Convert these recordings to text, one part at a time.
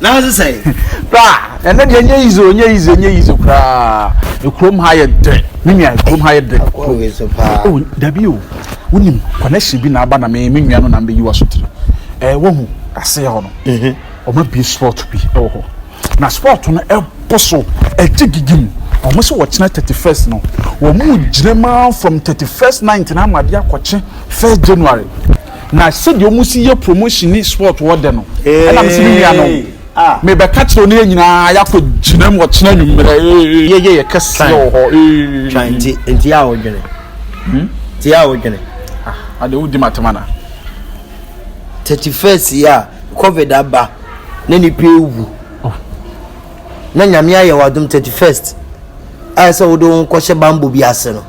na ase sɛn. bra ɛnɛ deɛ nyɛ yize o nyɛ yize nyɛ yize koraa ekurom ha yɛ dɛ mi nua ekurom ha yɛ dɛ. akɔ mi so paa. o dabi o wonim connection bi na aba na mi mi nua no na mi bɛ yi wa so tiri ɛɛ wahu aseɛ hɔ no mhm. ɔma bie sport bi ɛwɔ hɔ na sport no ɛbɔ so ɛgye gigi mu wɔn sɛ wɔkyena thirty first no wɔn mu gyina mu from thirty first night na ama adeɛ akɔkye first january. na sɛdeɛ ɔmo si yɛ promotion ne sport wɔ dɛ no ɛna mesi me nua no mebɛka kyerɛ ne yɛ nyinaa yɛakɔ gyina mu ɔkyena nwummerɛ yɛyɛ yɛ kɛseɛ wɔ hɔ nti nti a wodwene hmm? nti a wodwene ah, ade wodi matema na 31 yi a covid aba na nipa ewu oh. na nyame ayɛ wadom 31st ayɛ sɛ wode wo ho kɔhyɛ bambɔ bi ase no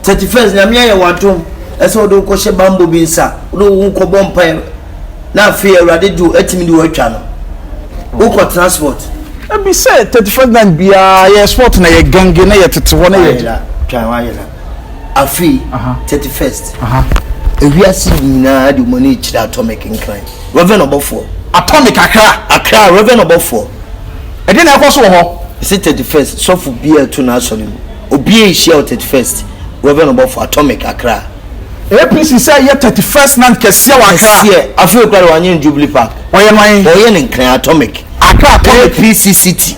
thirty first nyame ayɛ w'adom ɛsɛ wode wo kɔhyɛ bambɔ bi nsa wode wo ho kɔbɔ mpae na afei awurade de atumi de watwa no wokɔ transport ebi sɛ thirty first night biara yɛ sport na yɛ gange na yɛ tete hɔ na yɛ ayɛla twa hɔ ayɛla afei thirty first ewiase nyinaa de wɔn ani akyerɛ atomic nkran Rev. Ɔbɔfoɔ. Atɔ me kakra. Accra, Rev. Ɔbɔfoɔ. Ɛdeɛn na ɛrekɔ so wɔ hɔ? Mese thirty first, sɔfo biara reto n'asɔre mu. Obiara rehyia wɔ thirty first, Rev. Ɔbɔfoɔ. Atɔ me kakra. APC sɛ yɛ thirty first night kɛseɛ wɔ Accra. Kɛseɛ. Afei koraa deɛ wɔanyɛ no Jubilee Park. Wɔyɛ no ahe? Wɔreyɛ no Nkran, Atomic. Accra, Atomic. APC city.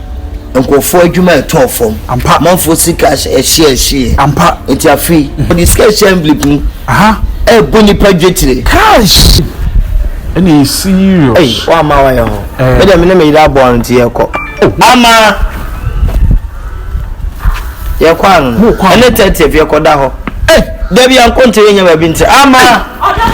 nkurɔfoɔ adwuma a ɛtɔɔ fam. Ampa. Amanfoɔ sika ɛhyeɛhyeɛ. Ampa. Nti afei, wɔde sika ɛhyɛ envelope mu Aha. ɛrebɔ nnipa dwetire. Kaish! Ɛna ɛyɛ serious. Ei, wo Ama wayɛ hɔ. Eh. Me deɛ me ne me yere abɔ ano nti yɛkɔ. Ama! Yɛkɔ ano. Mo kɔ ano. Ɛne 30th yɛkɔda hɔ. Ei, da bi ankonte yɛnyɛ baabi nti. Ama! Ɔda.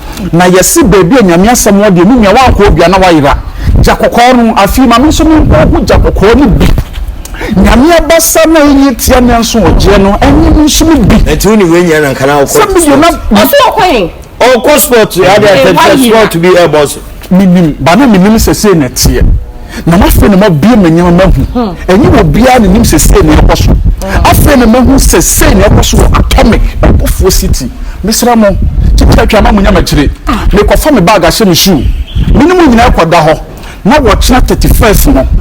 na yɛse baabi a Nyame asɛm wɔ deɛ menua wankɔ odua na wayera gya kɔkɔɔ no afei ma me nso menkɔ ɔho gya kɔkɔɔ no bi Nyame abasa na ɛnyɛ tia me nso ɔgyeɛ no ɛnye me nso me bi Ɛnti wo ne wei nyɛ na nka na wokɔ sport Ɔso ɔkɔ he? Ɔkɔ sport adeɛ atɛntɛ sport bi ɛbɔ so. Menim, ba na menim sɛ sei na ɛteɛ, na m'afei na m'abue m'ani ma m'ahu. Hmm. Ɛnyɛ wɔ biara na nim sɛ sei na ɛkɔ so. Hmm. Afei na m'ahu sɛ sei na ɛkɔ so wɔ Atomic, Ɔbɔfoɔ City. Mesrɛ mo, kyekyɛ atwa ma mo nya m'akyire. Ah. Mekɔfa me bag ahyɛ me shoe. Mene mo nyinaa kɔda hɔ. Na wɔkyena 31st no,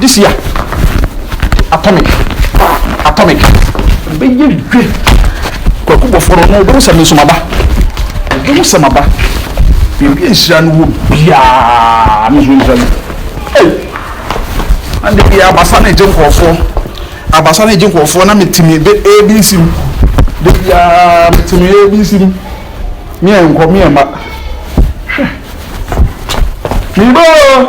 This year, atomic, atomic. Bɛyɛ dwe. Kwaku bɔfo no, no wobɛhu sɛ me nso maba. Wobɛhu sɛ maba. Biribi nhyira no wɔ biara ne ho ntwa mu. Hey! Ande bi abasa na egye nkurɔfoɔ. Abasa na egye nkurɔfoɔ na metumi de ABC mu. De biara metumi ABC mu. Meɛ nkɔ, meɛ mma. Hwɛ. Mebɔ!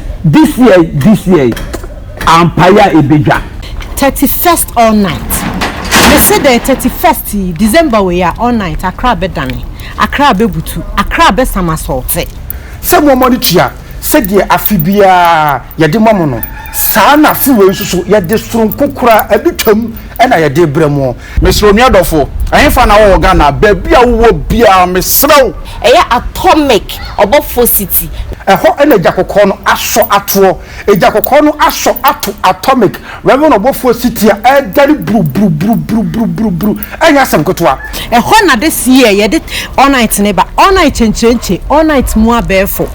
This year this year ampaeɛ a ɛbɛdwa. Thirty first all night mese dɛn thirty first yi December wei a all night Accra bɛdane Accra bɛbutu Accra bɛsama sɔɔte. Sɛ nnoɔma no tua sɛdeɛ afe biara yɛde ma mo no saa na afe wei nso so yɛde soronko koraa abitwam na yɛde rebrɛ mo. Mesrɛ onua dɔfo, ɛhefa na wɔwɔ Ghana? Baabi a wowɔ biara, mesrɛ wo. Ɛyɛ atomic ɔbɔfoɔ city. Ɛhɔ na Agya Kɔkɔɔ no asɔ atoɔ. Agya Kɔkɔɔ no asɔ ato atomic Reverend ɔbɔfoɔ city a ɛredane buruburuburuburuburuburuburuburubu. Ɛnyɛ asɛm ketewa. Ɛhɔ na this year yɛde all night no ba, all night kyenkyerenkye, all night mu abɛɛfo.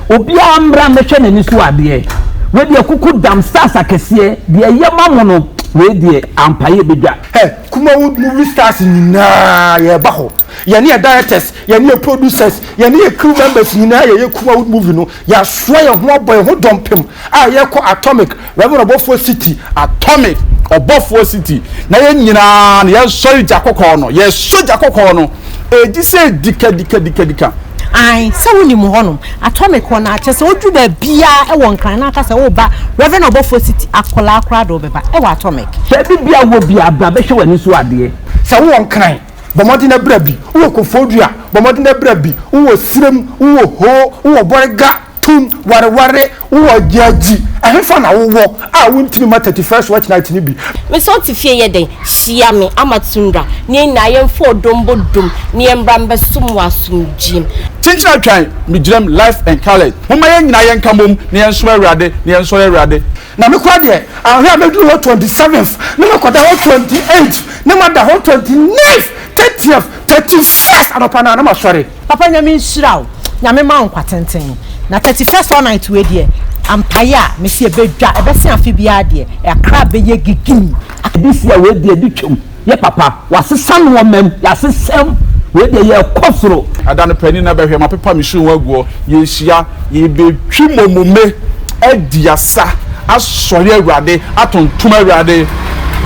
Obiara mmra mmɛhwɛ n'ani so adeɛ. Wei deɛ kuku dam stars akɛseɛ deɛ ɛyɛ ma mo no wei deɛ ampa yɛ bɛdwa. Hɛ kumawood movie stars nyinaa yɛɛba hɔ yɛne yɛ directors yɛne yɛ producers yɛne yɛ crew members nyinaa yɛyɛ kumawood movie no yɛasoa yɛn ho abɔ yɛn ho dɔmpem a yɛkɔ atomic Reverend Ɔbɔfoɔ City Atomic Ɔbɔfoɔ City na yɛn nyinaa no yɛnsɔre gya kɔkɔɔ no yɛsɔ gya kɔkɔɔ no ɛdi sɛ dikadikadikadika. Ae sɛ wonim wɔ hɔnom Atomic hɔ no a kyɛsɛ woduru baabiaa ɛwɔ Nkran na aka sɛ woreba Reverend Ɔbɔfoɔ City akwadaa koraa de wo bɛba ɛwɔ Atomic. Baabi biaa wowɔ biaa bra bɛhwɛ w'ani so adeɛ. Sɛ wowɔ Nkran bɔ mmɔden na bra bi, wowɔ Kofoɔdua bɔ mmɔden na bra bi, wowɔ Sirem, wowɔ Hoo, wowɔ Bɔrega, Tum, wareware, wo wɔ Gyagyi, ɛhefa na wo wɔ a wo ntini ma thirty first watch night no bi? Me sɛ ɔte fie yɛ dɛn? Hyia me ama Tundra na yɛn nyinaa yɛmfa ɔdɔ mbɔ dom na yɛmbra mbɛsom wɔ asomdwiem. Kyenkyen atwan, megyinam life and colours Momma yɛn nyinaa yɛnka mom na yɛnsom Awurade na yɛnsɔre Awurade. Na me koraa deɛ anhwɛ a mɛduru hɔ twenty seventh na makɔda hɔ twenty eighth na mada hɔ twenty ninth thirtieth thirty first anɔpa no ara na masɔre. Papa nyame nhyira wo nyame ma wo nkwa tenten na thirty first all night wei deɛ ampaeɛ a mese ɛbɛdwa ɛbɛse afe biara deɛ Accra bɛyɛ gigii. This year wei deɛ bi twam yɛ papa wasesa noɔmam yasesam wei deɛ yɛkɔ soro. Ada no panin na bɛhwɛ mapepa me shoe ho aguɔ yɛnhyia yɛbɛtwi momome adi asa asɔre awurade atontom awurade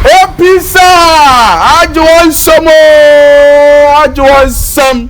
opisa agye wɔn nsam oo agye wɔn nsam.